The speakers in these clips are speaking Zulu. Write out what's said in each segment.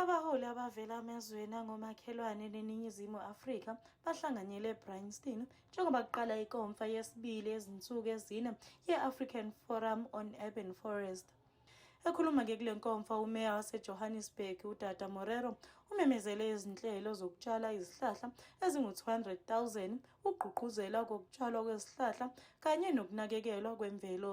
Abaholi abavela emazweni angomakhelwane neNingizimu Afrika bahlanganyele eBryanston njengoba kuqala ikonfa yesibili yezinsuku ezine ye-African Forum on Urban Forest. Ekhuluma-ke kule nkomfa umeya wasejohannesburg udada morero umemezele izinhlelo zokutshala izihlahla ezingu-200,000 ukugqugquzela kokutshalwa kwezihlahla kanye nokunakekelwa kwemvelo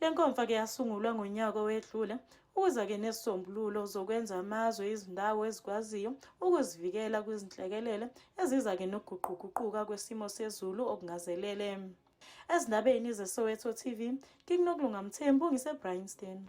Le nkomfa ke yasungulwa ngonyaka owedlule ukuza ke nesisombululo zokwenza amazwe izindawo ezikwaziyo ukuzivikela kwizinhlekelele eziza ke nokuguquguquka kwesimo sezulu okungazelele. Ezindabeni zeSoweto TV, ngikunokulunga Mthembu ngiseBryanston.